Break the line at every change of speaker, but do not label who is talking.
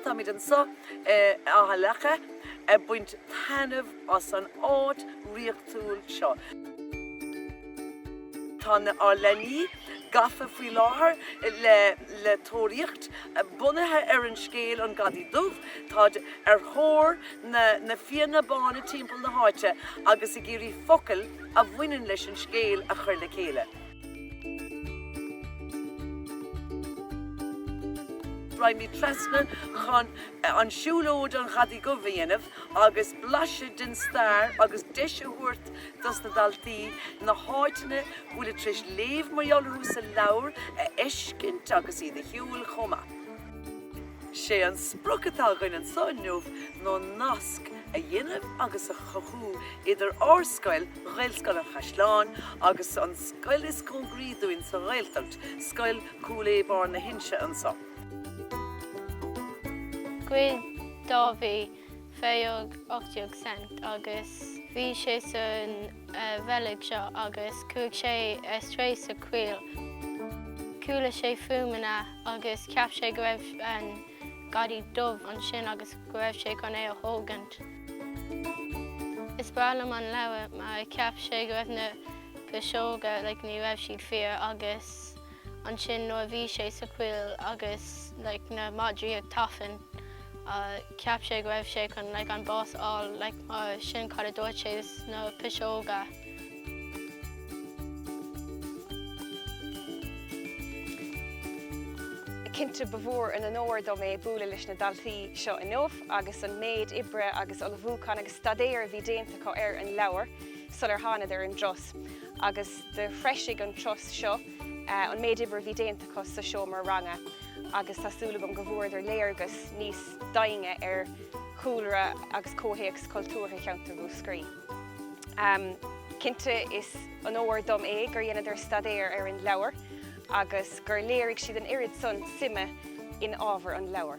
Táimid anseo in Áth Leaca ag baint taitneamh as an áit dhraíochtúil seo. Tá na ár leanaí gafa faoi láthair le le tóraíocht. Bunaithe ar an scéal An Gadaí Dubh, táid ar thóir na na fianna bána timpeall na háite agus ag iarraidh focail a bhaineann leis an scéal a chuir le chéile. Rachaimid trasna chun siúlóid An Ghadaí Dhubh a dhéanamh agus blaiseadh den stair agus deis a thabhairt dos na daltaí na háiteanna go bhfuilid tar éis léamh mar gheall orthu sa leabhar a fheiscint agus iad a shiúl chomh maith. Sé an sprioc atá againn anseo inniu ná nasc a dhéanamh agus a chothú idir ár scoil, Gaelscoil an Chaisleáin agus an scoil is cóngaraí dúinn sa Ghaeltacht, Scoil Chúil Aodha Barr na hInse anseo. Ghoid Dáibhí fiche euro ochtó cent agus bhí sé san reilig seo agus chuaidh sé isteach sa choill. Chuala sé fuaimeanna agus cheap sé go raibh an Gadaí Dubh ansin agus go raibh sé chun é a thógaint. Is breá liom an leabhar mar cheap sé go raibh na piseoga like ní raibh siad fíor agus ansin nuair a bhí sé sa choill agus like na madraí ag tafann cheap sé go raibh sé chun like an bás a fháil like mar sin cad a dúirt sé sna piseoga. Cinnte ba mhór an onóir dom é bualadh leis na daltaí seo inniu agus an méid oibre agus ullmhúcháin agus staidéir a bhí déanta acu ar an leabhar sular thánadar ar an dturas agus do threisigh an turas seo an méid oibre a bhí déanta acu sa seomra ranga agus tá súil agam go bhfuaireadar léargas níos daingne ar chúlra agus comhthéacs cultúrtha cheantar Mhúscraí. Cinnte is onóir dom é gur dheineadar staidéar ar an leabhar agus gur léirigh siad an oiread san suime in ábhar an leabhair.